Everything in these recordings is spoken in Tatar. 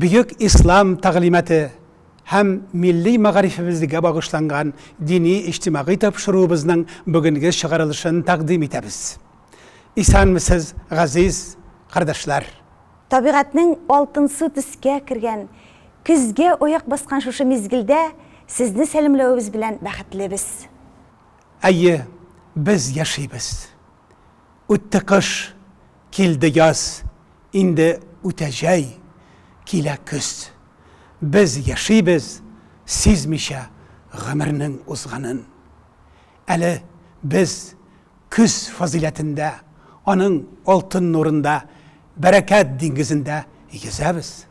Бөек Ислам тәгълиматы һәм милли мәгарифебезгә багышланган дини-иҗтимагый тапшыруыбызның бүгенге чыгарылышын тәкъдим итәбез. Исәнмесез, газиз кардәшләр! Табигатьнең алтынсу төскә кергән, көзгә аяк баскан шушы мизгелдә сезне сәламләвебез белән бәхетлебез. Әйе, без яшибез. Үтте кыш. Килде яз, инде үтә җәй, килә көз. Без яшибез, сизмичә гомернең узганын. Әле без көз фазыйләтендә, аның алтын нурында, бәрәкәт диңгезендә Йөзәбез.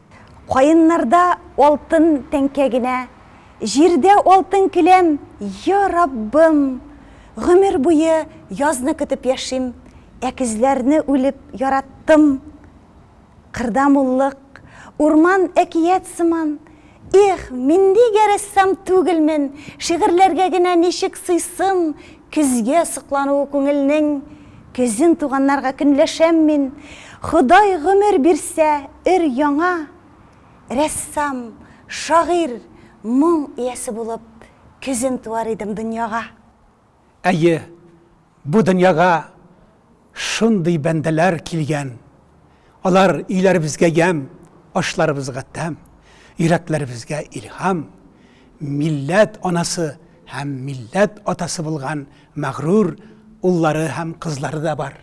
Каеннарда алтын тәңкә генә, Җирдә алтын келәм, йа Раббым! Гомер буе язны көтеп яшим, Ә көзләрне үлеп яраттым. Кырда муллык, урман әкият сыман. Их, мин нигә рәссам түгелмен, шигырьләргә генә ничек сыйсым, көзгә соклануы күңелнең, көзен туганнарга көнләшәм мин, Ходай гомер бирсә, өр-яңа рәссам, шагыйрь, моң иясе булып, көзен туар идем дөньяга. Әйе, бу дөньяга шундый бәндәләр килгән, алар өйләребезгә ямь, ашларыбызга тәм, йөрәкләребезгә илһам, милләт анасы һәм милләт атасы булган мәгърур уллары һәм кызлары да бар.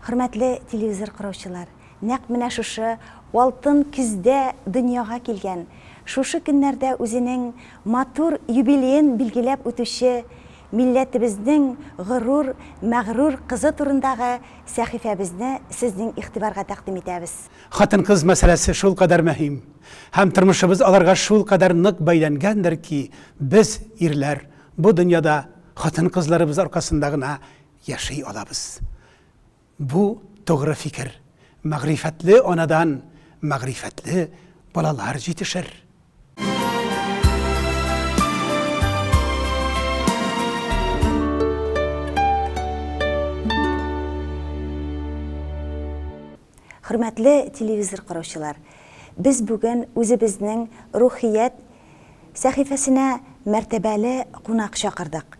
Хөрмәтле телевизор караучылар, нәкъ менә шушы алтын көздә дөньяга килгән, шушы көннәрдә үзенең матур юбилеен билгеләп үтүче милләтебезнең горур, мәгърур кызы турындагы сәхифәбезне сезнең игътибарга тәкъдим итәбез. Хатын-кыз мәсьәләсе шулкадәр мөһим һәм тормышыбыз аларга шулкадәр нык бәйләнгәндер ки, без, ирләр, бу дөньяда хатын-кызларыбыз аркасында гына яши алабыз. Бу, тугры фикер. Мәгърифәтле анадан мәгърифәтле балалар җитешер. Хөрмәтле телевизор караучылар, без бүген үзебезнең Рухият сәхифәсенә мәртәбәле кунак чакырдык.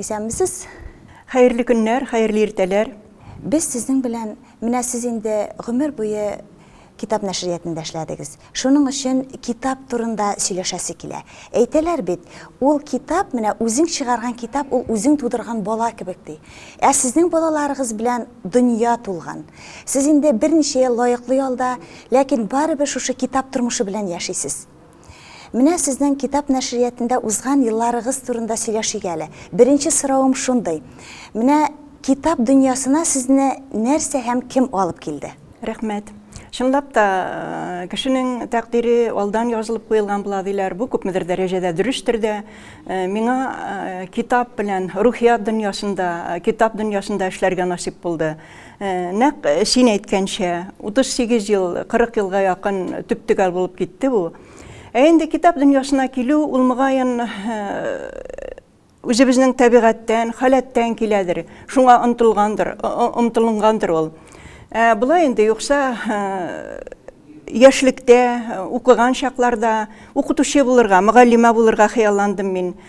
Исәнмесез! Хәерле көннәр, хәерле иртәләр! Без сезнең белән, менә сез инде гомер буе китап нәшриятында эшләдегез. Шуның өчен китап турында сөйләшәсе килә. Әйтәләр бит, ул китап, менә үзең чыгарган китап, ул үзең тудырган бала кебек, ди. Ә сезнең балаларыгыз белән дөнья тулган. Сез инде берничә ел лаеклы ялда, ләкин барыбер шушы китап тормышы белән яшисез. Менә сезнең китап нәшриятендә узган елларыгыз турында сөйләшик әле. Беренче соравым шундый. Менә китап дөньясына сезне нәрсә һәм кем алып килде? Рәхмәт. Чынлап та, кешенең тәкъдире алдан язылып куелган була, диләр. Бу күпмедер дәрәҗәдә дөрестер дә. Миңа китап белән рухият дөньясында, китап дөньясында эшләргә насыйп булды. Нәкъ син әйткәнчә, 38 ел, 40 елга якын төптөгәл булып китте бу. Ә инде китап дөньясына килү, ул мөгаен үзебезнең табигатьтән, халәттән киләдер, шуңа омтылгандыр, омтылынгандыр ул. Ә болай инде, юкса яшьлектә, укыган чакларда укытучы булырга, мөгаллимә булырга хыялландым мин.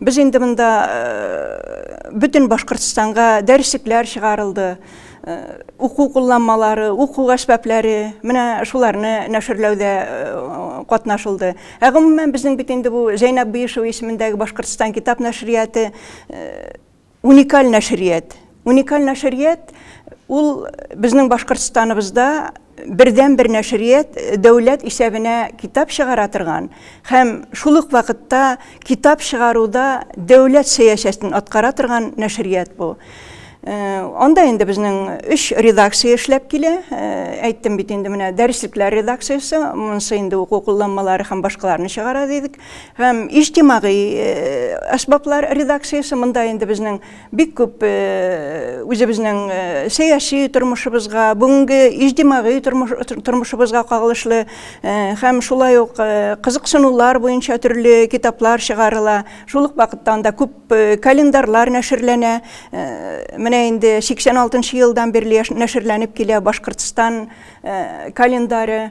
Без инде монда бөтен Башкортстанга дәреслекләр чыгарылды. Уку кулланмалары, уку әсбапләре, менә шуларны нәшерләүдә катнашылды. Ә гомумән безнең бит инде бу Зәйнәб Биишева исемендәге Башкортстан китап нәшрияты Уникаль нәшрият. Уникаль нәшрият ул безнең Башкортстаныбызда бердәнбер нәшрият дәүләт исәбенә китап чыгара торган һәм шул ук вакытта китап чыгаруда дәүләт сәясәтен аткара торган нәшрият бу. Э, анда инде безнең өч редакция эшләп килә э, әйттем бит инде менә дәреслекләр редакциясе монысы инде уку кулланмалары һәм башкаларны чыгара дидек Һәм иҗтимагый әсбаплар редакциясе монда инде безнең бик күп үзебезнең сәяси тормышыбызга, бүгенге иҗтимагый тормышыбызга кагылышлы һәм шулай ук кызыксынулар буенча төрле китаплар чыгарыла. Шул ук вакытта анда күп календарьлар нәшерләнә. Менә инде 86 елдан бирле нәшерләнеп килә Башкортстан календаре.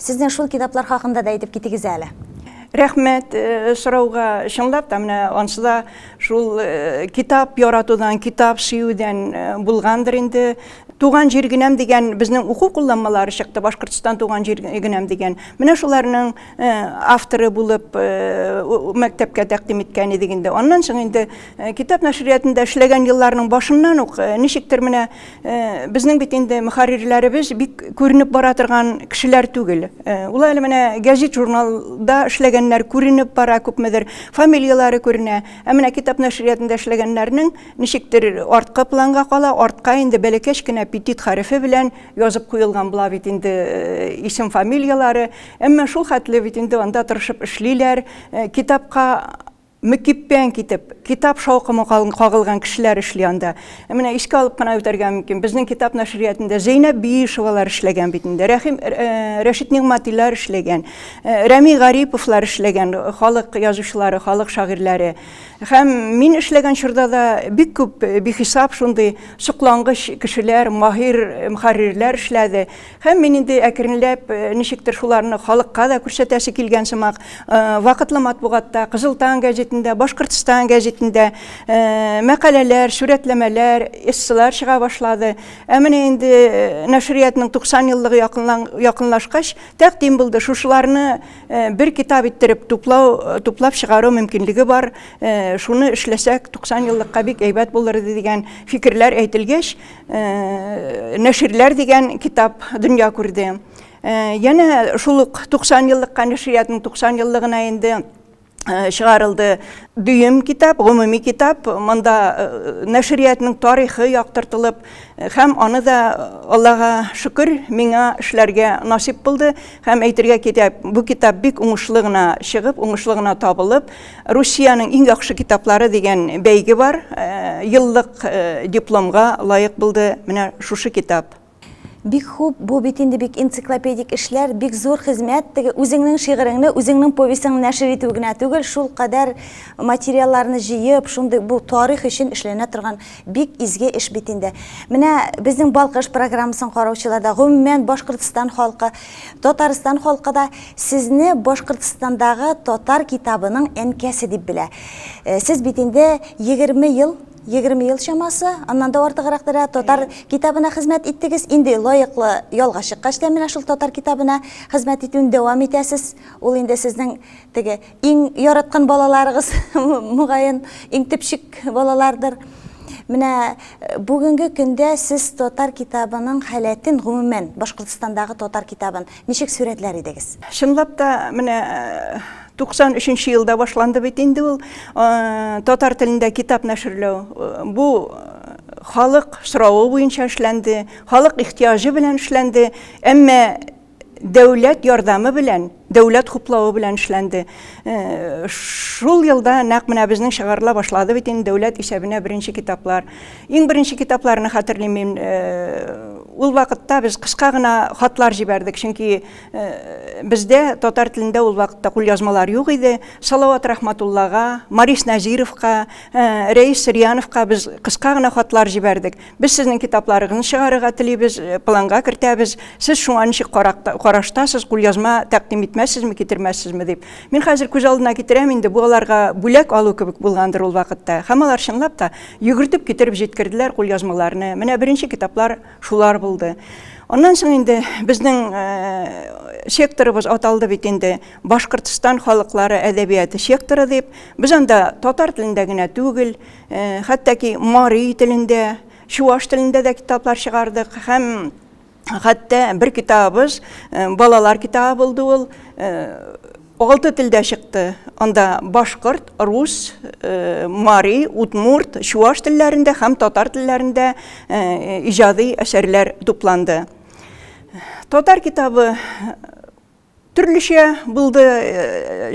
Сезнең шул китаплар хакында да әйтеп китегез әле. Рәхмәт сорауга. Чынлап та, менә ансыда шул китап яратудан, китап сөюдән булгандыр инде. Туган җир генәм дигән безнең уку кулланмалары чыкты, Башкортстан туган җир генәм дигән. Менә шуларның авторы булып мәктәпкә тәкъдим иткән идек инде. Аннан соң инде китап нәшриятында эшләгән елларның башыннан ук ничектер менә Э, безнең бит инде мөхәррирләребез бик күренеп бара торган кешеләр түгел э, ул әле менә гәзит журналда эшләгәннәр күренеп бара күпмедер фамилияләре күренә ә менә китап нәшриятында эшләгәннәрнең ничектер арткы планга кала артка инде бәләкәч кенә петит хәрефе белән язып куелган була бит инде э, исем фамилияләре әмма шул хәтле бит инде анда тырышып эшлиләр китапка Мөкиббән китеп, китап шаукымы кагылган кешеләр эшли анда. Ә менә искә алып кына үтәргә мөмкин, безнең китап нәшриятында Зәйнәб Биишевалар эшләгән бит инде, Рәхим, Рәшит Нигъматилар эшләгән, Рәми Гариповлар эшләгән, халык язучылары, халык шагыйрьләре. Һәм мин эшләгән чорда да бик күп, бихисап шундый соклангыч кешеләр, маһир мөхәррирләр эшләде. Һәм мин инде әкренләп ничектер шуларны халыкка да күрсәтәсе килгән сымак, вакытлы матбугатта, Кызыл таң гәҗитендә, Башкортстан гәҗитендә мәкаләләр, сурәтләмәләр, эссылар чыга башлады. Ә менә инде нәшриятның 90 еллыгы якынлашкач, тәкъдим булды, шушыларны бер китап иттереп туплау, туплап чыгару мөмкинлеге бар, шуны эшләсәк, 90 еллыкка бик әйбәт булыр иде дигән фикерләр әйтелгәч, Э, нәширләр дигән китап дөнья күрде. Э, янә шул ук 90 еллыкка нәшриятның 90 еллыгына инде э, чыгарылды дөем китап, гомуми китап. Монда нәшриятның тарихы яктыртылып, һәм аны да Аллага шөкер, миңа эшләргә насип булды. Һәм әйтергә китә, бу китап бик уңышлы гына чыгып, уңышлы гына табылып, Русиянең иң яхшы китаплары дигән бәйге бар. Еллык дипломга лаек булды менә шушы китап. Бик хуп, бу бит инде бик энциклопедик эшләр, бик зур хезмәт, теге үзеңнең шигыреңне, үзеңнең повестеңне нәшер итү генә түгел, шул кадәр материалларны җыеп, шундый бу тарих өчен эшләнә торган бик изге эш бит инде. Менә безнең Балкыш программасын караучылар да, гомумән Башкортстан халкы, Татарстан халкы да сезне Башкортстандагы татар китабының әнкәсе дип белә. Э, сез бит инде 20 ел, 20 ел чамасы, аннан да артыграк дәрә татар китабына хезмәт иттегез. Инде лаеклы ялга чыккач та менә шул татар китабына хезмәт итүен дәвам итәсез. Ул инде сезнең теге Иң яраткан балаларыгыз, мөгаен, иң төпчек балалардыр. Менә э, бүгенге көндә сез татар китабының халәтен, гомумән, Башкортостандагы татар китабын ничек сурәтләр идегез? Чынлап та, менә 93 э, елда башланды бит инде ул э, татар телендә китап нәшерләү. Бу халык соравы буенча эшләнде, халык ихтиҗы белән эшләнде. Әмма дәүләт ярдәме белән, дәүләт хуплавы белән эшләнде. Э, шул елда нәкъ менә безнең чыгарыла башлады бит инде дәүләт исәбенә беренче китаплар. Иң беренче китапларны хәтерлим мин. Э, ул вакытта без кыска гына хатлар җибәрдек, чөнки э, бездә татар телендә ул вакытта кулъязмалар юк иде. Салават Рахматуллага, Марис Назировка, Рәис Сырьяновка без кыска гына хатлар җибәрдек. Без сезнең китапларыгызны чыгарырга телибез, э, планга кертәбез. Сез шуңа ничек караштасыз, кулъязма тәкъдим итмәссезме, китермәссезме дип. Мин хәзер күз алдына китерәм инде, бу аларга бүләк алу кебек булгандыр ул вакытта. Һәм алар чынлап та йөгертеп китереп җиткерделәр кулъязмаларны. Менә беренче китаплар шулар булды. Аннан соң инде безнең э, секторыбыз аталды бит инде Башкортстан халыклары әдәбияты секторы дип. Без анда татар телендә генә түгел, Хәтта ки мари телендә, чуваш телендә дә китаплар чыгардык һәм хәтта бер китабыбыз балалар китабы булды ул алты телдә чыкты анда башкорт рус мари удмурт чуваш телләрендә һәм татар телләрендә иҗади әсәрләр тупланды татар китабы Төрлечә булды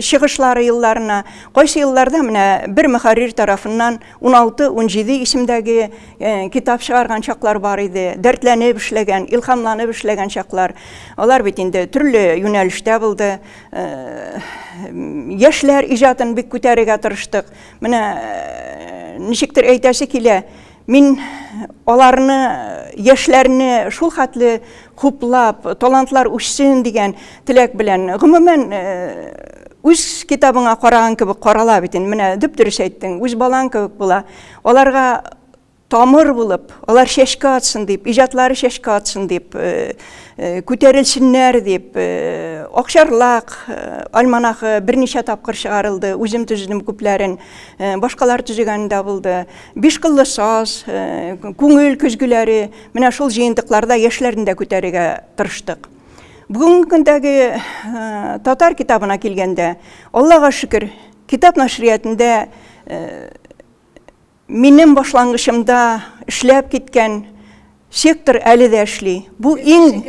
чыгышлары елларына. Кайсы елларда менә бер мөхәррир тарафыннан 16-17 исемдәге китап чыгарган чаклар бар иде. Дәртләнеп эшләгән, илһамланып эшләгән чаклар. Алар бит инде төрле юнәлештә булды. Яшьләр иҗатын бик күтәрергә тырыштык. Менә ничектер әйтәсе килә, Мин аларны, яшьләрне шул хәтле хуплап, талантлар үссен дигән теләк белән, гомумән, үз китабыңа караган кебек карала бит инде, менә дөп-дөрес әйттең, үз балаң кебек була. Аларга тамыр булып, алар чәчкә атсын дип, иҗатлары чәчкә атсын дип, күтәрелсеннәр дип, Акчарлак альманахы берничә тапкыр чыгарылды, үзем төзедем күпләрен, башкалар төзегән дә булды. Бишкыллы саз, күңел көзгеләре, менә шул җыентыкларда яшьләрне дә күтәрергә тырыштык. Бүгенге көндәге татар китабына килгәндә, Аллага шөкер, китап нәшриятендә минем башлангычымда эшләп киткән Сектор әле дә эшли. Бу иң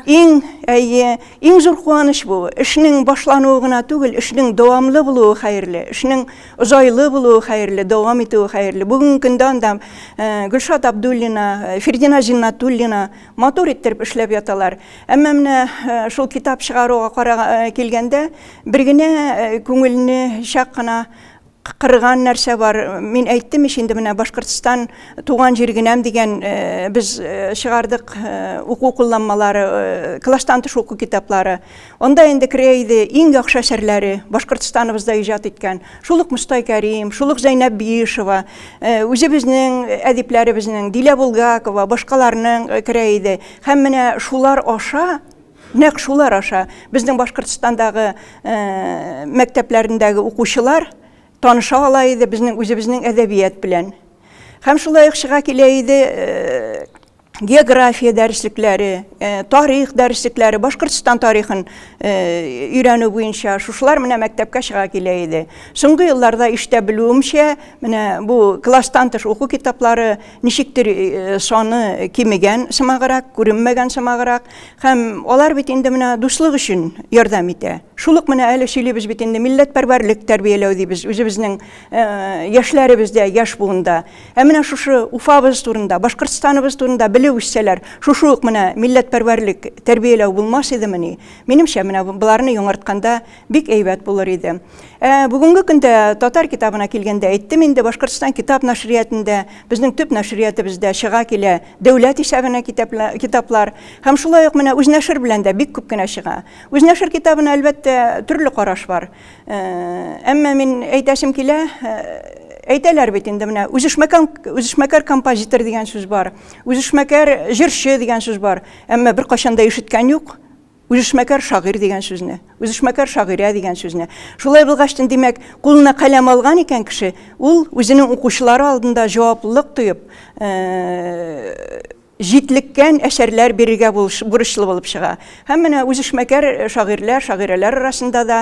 иң әйе, иң зур куаныч бу. Эшнең башлануы гына түгел, эшнең дәвамлы булуы хәерле, эшнең озайлы булуы хәерле, дәвам итүе хәерле. Бүгенге көндә анда э, Гөлшат Абдуллина, э, Фердина Зиннатуллина матур иттереп эшләп яталар. Әмма менә э, шул китап чыгаруга килгәндә, бер генә күңелне чак кына кырган нәрсә бар. Мин әйттем ич инде менә Башкортстан туган җир генәм дигән э, без э, чыгардык э, уку кулланмалары, класстан тыш уку китаплары. Анда инде керә иде иң яхшы әсәрләре Башкортстаныбызда иҗат иткән. Шул ук Мостай Кәрим, шул ук Зәйнәб Биишева, үзебезнең әдипләребезнең Дилә Булгакова, башкаларның керә иде. Һәм менә шулар аша Нәкъ шулар аша безнең Башкортстандагы мәктәпләрендәге укучылар таныша ала иде безнең үзебезнең әдәбият белән. Һәм шулай ук чыга килә иде география дәреслекләре, тарих дәреслекләре, Башкортстан тарихын өйрәнү буенча шушылар менә мәктәпкә чыга килә иде. Соңгы елларда иштә белүемчә, менә бу класстан тыш уку китаплары Ничектер саны кимегән сымаграк, күренмәгән сымаграк һәм алар бит инде менә дуслык өчен ярдәм итә. Шул ук менә әле сөйлибез бит инде милләтпәрвәрлек тәрбияләү дибез үзебезнең яшьләребездә, яшь буында. Ә менә шушы Уфабыз турында, Башкортстаныбыз турында белеп үссәләр, шушы ук менә милләтпәрвәрлек тәрбияләү булмас идемени? Минемчә, менә боларны яңартканда Бик әйбәт булыр иде. Ә, бүгенге көндә татар китабына килгәндә әйттем инде, Башкортстан китап нәшриятендә, безнең төп нәшриятебездә чыга килә дәүләт исәбенә китаплар. Һәм шулай ук менә үзнәшер белән дә бик күп кенә чыга. Үзнәшер китабына, әлбәттә, төрле караш бар. Ә, әмма мин әйтәсем килә, ә, әйтәләр бит инде менә үзешмәкән үзешмәкәр композитор дигән сүз бар, үзешмәкәр җырчы дигән сүз бар. Әмма беркайчан да ишеткән юк. Үзешмәкәр шагыйрь дигән сүзне, үзешмәкәр шагыйрә дигән сүзне. Шулай булгач, димәк, кулына каләм алган икән кеше, ул үзенең укучылары алдында җаваплылык тоеп, җитлеккән әсәрләр бирергә бурычлы булып чыга. Һәм менә үзешмәкәр шагыйрьләр, шагыйрәләр арасында да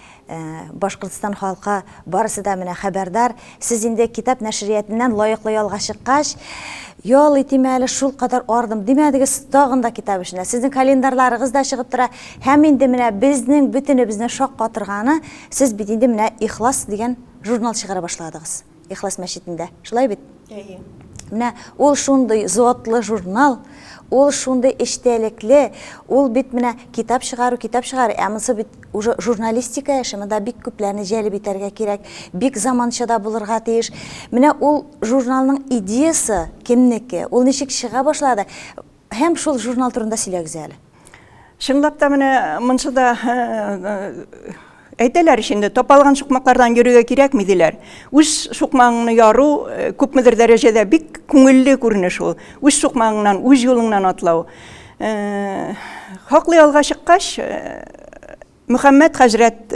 Башкортстан халкы барысы да менә хәбәрдар. Сез инде китап нәшриятеннән лаеклы ялга чыккач, ял итим әле, шулкадәр ардым, димәдегез, тагын да китап эшенә. Сезнең календарьларыгыз да чыгып тора. Һәм инде менә безнең бөтенебезне шаккатырганы, сез бит инде менә Ихлас дигән журнал чыгара башладыгыз. Ихлас мәчетендә. Шулай бит? Әйе. Менә ул шундый затлы журнал, ул шундый эчтәлекле, ул бит менә китап чыгару, китап чыгару, ә монысы бит уже журналистика эше, монда бик күпләрне җәлеп итәргә кирәк, бик заманча да булырга тиеш. Менә ул журналның идеясы кемнеке, ул ничек чыга башлады? Һәм шул журнал турында сөйләгез әле. Чынлап та менә монсы да әйтәләр ич инде, тапалган сукмаклардан йөрергә кирәкми диләр. Үз сукмагыңны яру э, күпмедер дәрәҗәдә бик күңелле күренеш ул. Үз сукмагыңнан, үз юлыңнан атлау. Э, хаклы ялга чыккач, э, Мөхәммәт хәзрәт,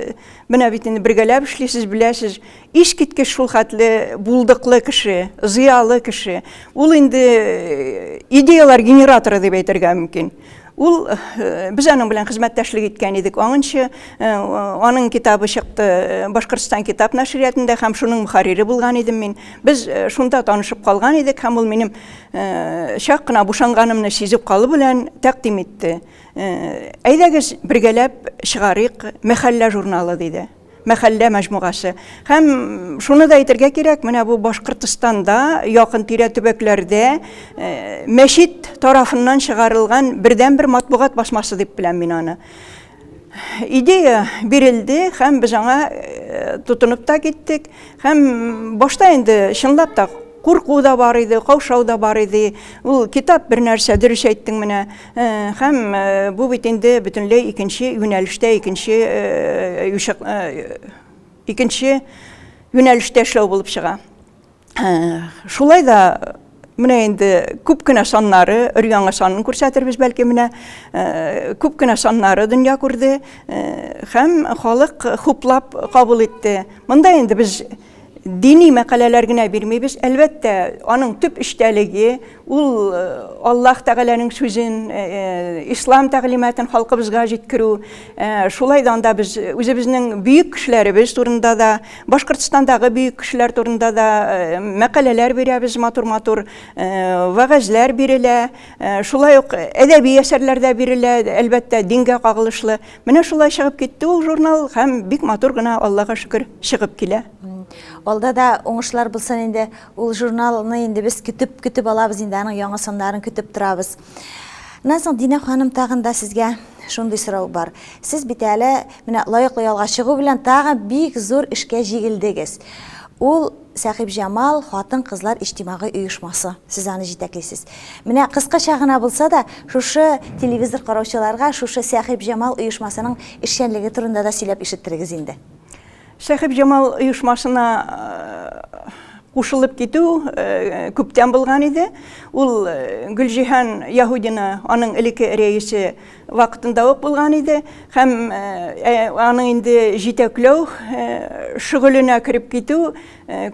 менә бит инде бергәләп эшлисез, беләсез, искиткеч шул хәтле булдыклы кеше, зыялы кеше. Ул инде э, идеялар генераторы дип әйтергә мөмкин. Ул э, без аның белән хезмәттәшлек иткән идек. Аңынчы э, аның китабы чыкты э, Башкортстан китап нәшриятында һәм шуның мөхәррире булган идем мин. Без шунда танышып калган идек һәм ул минем чак кына бушанганымны сизеп калу белән тәкъдим итте. Әйдәгез, бергәләп чыгарыйк мәхәллә журналы, диде. Мәхәллә мәҗмугасы. Һәм шуны да әйтергә кирәк, менә бу Башкортстанда, якын тирә төбәкләрдә мәчет тарафыннан чыгарылган бердәнбер матбугат басмасы дип беләм мин аны. Идея бирелде һәм без аңа тотынып та киттек. Һәм башта инде чынлап та курку да бар иде, каушау да бар иде. Ул китап бер нәрсә, дөрес әйттең менә. Һәм бу бит инде бөтенләй икенче юнәлештә, икенче икенче юнәлештә эшләү булып чыга. Шулай да менә инде күп кенә саннары, өр-яңа санын күрсәтербез бәлки менә, күп кенә саннары дөнья күрде һәм халык хуплап кабул итте. Монда инде без Дини мәкаләләр генә бирмибез. Әлбәттә, аның төп эчтәлеге ул Аллаһ Тәгаләнең сүзен, ислам тәгълиматын халкыбызга җиткерү. Шулай да анда без үзебезнең бөек кешеләребез турында да, Башкортстандагы бөек кешеләр турында да мәкаләләр бирәбез, матур-матур вәгазьләр бирелә. Шулай ук әдәби әсәрләр дә бирелә, әлбәттә, дингә кагылышлы. Менә шулай чыгып китте ул журнал һәм бик матур гына Аллага шөкер чыгып килә. Алда да уңышлар булсын инде. Ул журналны инде без көтеп көтеп алабыз инде аның яңа саннарын көтеп торабыз. Моннан соң Динә ханым тагын да сезгә шундый сорау бар. Сез бит әле менә лаеклы ялга чыгу белән тагы бик зур эшкә җигелдегез. Ул Сәхибҗамал хатын-кызлар иҗтимагый оешмасы, сез аны җитәклисез. Менә кыскача гына булса да, шушы телевизор караучыларга шушы Сәхибҗамал оешмасының эшчәнлеге турында да сөйләп ишеттерегез инде. Сәхибҗамал оешмасына кушылып китү күптән булган иде. Ул Гөлҗиһан Яһүдина, аның элекке рәисе, Вакытында ук булган иде һәм аны инде җитәкләү шөгыленә кереп китү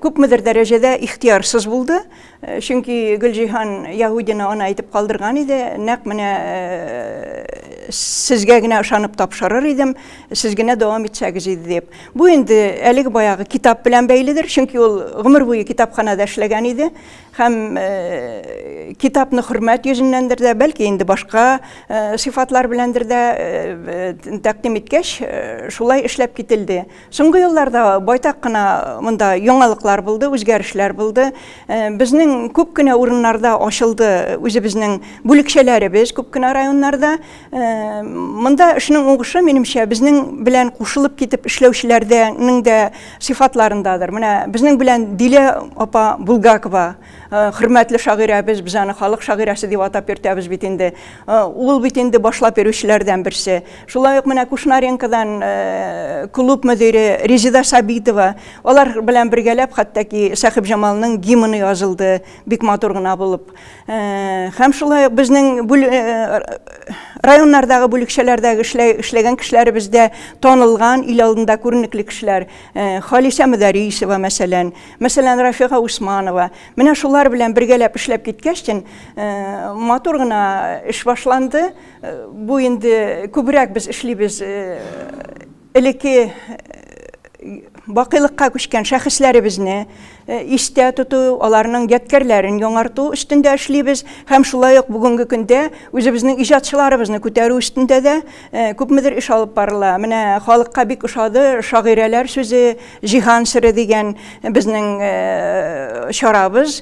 күпмедер дәрәҗәдә ихтиярсыз булды. Чөнки Гөлҗиһан Яһудина аны әйтеп калдырган иде, нәкъ менә сезгә генә ышанып тапшырыр идем, сез генә дәвам итсәгез иде дип. Бу инде әлеге баягы китап белән бәйледер, чөнки ул гомер буе китапханада эшләгән иде. Һәм китапны хөрмәт йөзеннәндер дә, бәлки инде башка сыйфатлар беләндер дә тәкъдим иткәч, шулай эшләп кителде. Соңгы елларда байтак кына монда яңалыклар булды, үзгәрешләр булды. Безнең күп кенә урыннарда ачылды үзебезнең бүлекчәләребез, күп кенә районнарда. Монда эшнең уңышы, минемчә, безнең белән кушылып китеп эшләүчеләрдәнең дә сыйфатларындадыр. Менә безнең белән Дилә апа Булгакова, э, хөрмәтле шагыйрәбез, без аны халык шагыйрәсе дип атап йөртәбез бит инде. Э, ул бит инде башлап йөрүчеләрдән берсе. Шулай ук менә Кушнаренкодан э, клуб мөдире Резида Сабитова, алар белән бергәләп хәтта ки Сәхибҗамалның гимны язылды, бик матур гына булып. Хәм шулай ук безнең районнардагы бүлекчәләрдәге эшләгән кешеләре бездә танылган, ил алдында күренекле кешеләр. Халисә Мөдәрисова, мәсәлән, мәсәлән, Рафига Усманова. Менә шулар белән бергәләп эшләп киткәч, тен матур гына эш башланды. Бу инде күбрәк без эшлибез Элекке бакыйлыкка күчкән шәхесләребезне истә тоту, аларның ядкәрләрен яңарту өстендә эшлибез һәм шулай ук бүгенге көндә үзебезнең иҗатчыларыбызны күтәрү өстендә дә күпмедер эш алып барыла. Менә халыкка бик ошады шагыйрәләр сүзе, Җиһан сере дигән безнең чарабыз.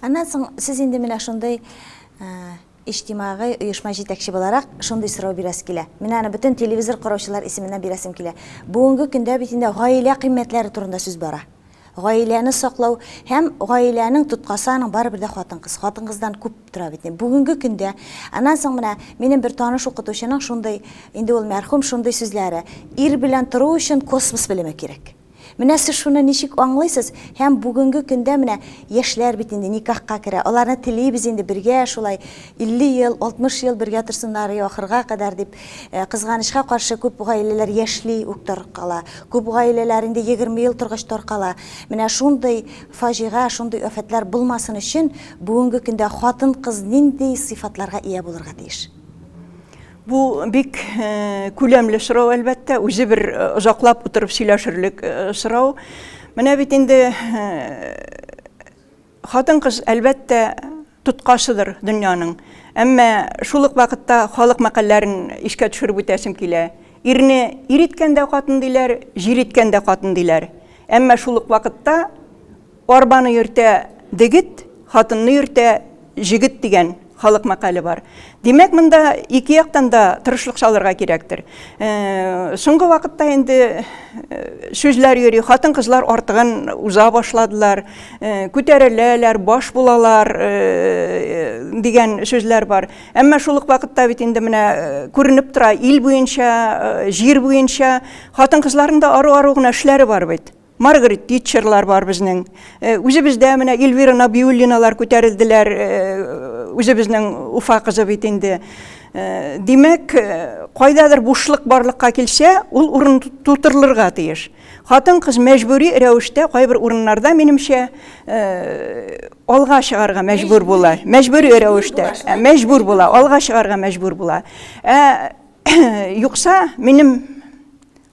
Аннан соң сез инде менә шундый иҗтимагый оешма җитәкче буларак шундый сорау бирәсе килә. Менә аны бөтен телевизор караучылар исеменнән бирәсем килә. Бүгенге көндә бит инде гаилә кыйммәтләре турында сүз бара. Гаиләне саклау һәм гаиләнең тоткасы аның барыбер дә хатын-кыз. Хатын-кыздан күп тора бит инде. Бүгенге көндә, аннан соң менә минем бер таныш укытучының шундый, инде ул мәрхүм, шундый сүзләре, ир белән тору өчен космос белеме кирәк. Менә сез шуны ничек аңлыйсыз һәм бүгенге көндә менә яшьләр бит инде никахка керә, аларны телибез инде бергә шулай 50 ел, 60 ел бергә торсыннар и ахырга кадәр дип. Кызганычка каршы, күп гаиләләр яшьли үк таркала. Күп гаиләләр инде 20 ел торгач таркала. Менә шундый фаҗига, шундый афәтләр булмасын өчен бүгенге көндә хатын-кыз нинди сыйфатларга ия булырга тиеш? Бу бик күләмле сорау, әлбәттә, үзе бер озаклап утырып сөйләшерлек сорау. Менә бит инде хатын-кыз, әлбәттә, тоткасыдыр дөньяның. Әмма шул ук вакытта халык мәкальләрен искә төшереп үтәсем килә. Ирне ир иткән дә хатын диләр, җир иткән дә хатын диләр. Әмма шул ук вакытта Арбаны йөртә дегет, хатынны йөртә җегет дигән халык мәкале бар. Димәк, монда ике яктан да тырышлык салырга кирәктер. Э, соңгы вакытта инде э, сүзләр йөри, хатын-кызлар артыгын уза башладылар, э, күтәреләләр, баш булалар дигән сүзләр бар. Әмма шул ук вакытта бит инде менә күренеп тора, ил буенча, җир буенча хатын-кызларның да ару-ару гына эшләре бар бит. Маргарет Титчерлар бар безнең. Э, үзебездә менә Эльвира Набиуллиналар күтәрелделәр. Э, үзебезнең Уфа кызы бит инде. Э, димәк, кайдадыр бушлык барлыкка килсә, ул урын тутырылырга тиеш. Хатын-кыз мәҗбүри рәвештә кайбер урыннарда, минемчә, алга чыгарга мәҗбүр була. Мәҗбүри рәвештә, мәҗбүр була, алга чыгарга мәҗбүр була. Ә юкса, минем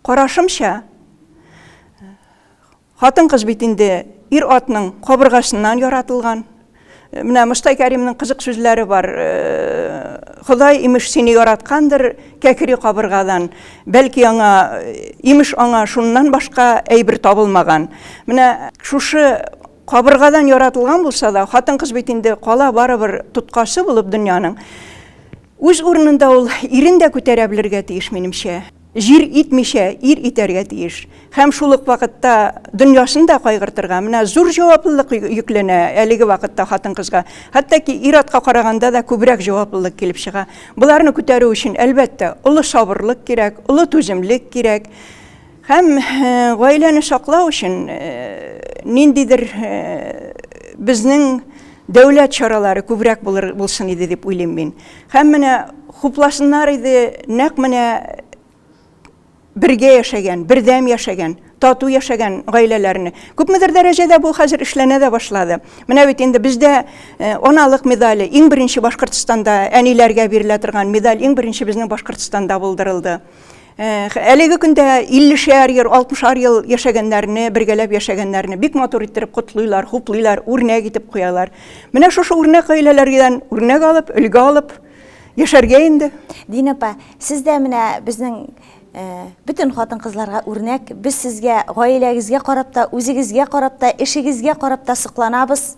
Карашымча, хатын-кыз бит инде ир-атның кабыргасыннан яратылган. Менә Мостай Кәримнең кызык сүзләре бар. Ходай имеш сине яраткандыр кәкри кабыргадан. Бәлки аңа имеш аңа шуннан башка әйбер табылмаган. Менә шушы кабыргадан яратылган булса да, хатын-кыз бит инде кала барыбер тоткасы булып дөньяның. Үз урынында ул ирен дә күтәрә белергә тиеш, минемчә. Җир итмичә, ир итәргә тиеш. Һәм шул ук вакытта дөньясын да кайгыртырга, менә зур җаваплылык йөкләнә әлеге вакытта хатын-кызга. Хәтта ки ир-атка караганда да күбрәк җаваплылык килеп чыга. Боларны күтәрү өчен, әлбәттә, олы сабырлык кирәк, олы түземлек кирәк. Һәм гаиләне саклау өчен ниндидер безнең дәүләт чаралары күбрәк булсын иде дип уйлыйм мин. Һәм менә хупласыннар иде, нәкъ менә бергә яшәгән, бердәм яшәгән, тату яшәгән гаиләләрне. Күпмедер дәрәҗәдә бу хәзер эшләнә дә башлады. Менә бит инде бездә э, аналык медале иң беренче Башкортстанда әниләргә бирелә торган медаль иң беренче безнең Башкортстанда булдырылды. Әлеге көндә 50 шәр ел, 60 шәр ел яшәгәннәрне, бергәләп яшәгәннәрне бик матур иттереп котлыйлар, хуплыйлар, үрнәк итеп куялар. Менә шушы үрнәк гаиләләрдән үрнәк алып, өлге алып яшәргә инде. Динә апа, сез дә менә безнең бөтен хатын-кызларга үрнәк. Без сезгә, гаиләгезгә карап та, үзегезгә карап та, эшегезгә карап та сокланабыз.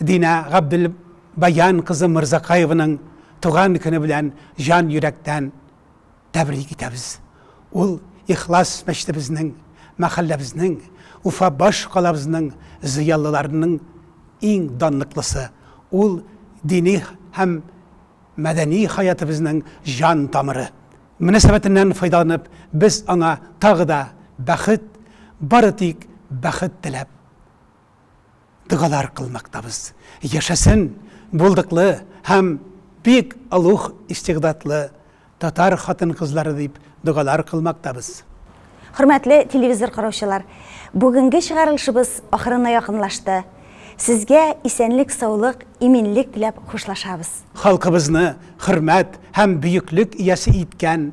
Динә Габделбаян кызы Мырзакаеваның туган көне белән җан йөрәктән тәбрик итәбез. Ул ихлас мәчетебезнең, мәхәлләбезнең, Уфа баш калабызның зыялыларының иң данлыклысы. Ул дини һәм мәдәни хаятыбызның җан тамыры. Мөнәсәбәтеннән файдаланып, без аңа тагы да бәхет, бары тик бәхет теләп. догалар кылмактабыз. Яшәсен булдыклы һәм бик олуг истигъдатлы татар хатын-кызлары дип догалар кылмактабыз. Хөрмәтле телевизор караучылар, бүгенге чыгарылышыбыз ахырына якынлашты. Сезгә исәнлек, саулык, иминлек теләп хушлашабыз. Халкыбызны хөрмәт һәм бөеклек иясе иткән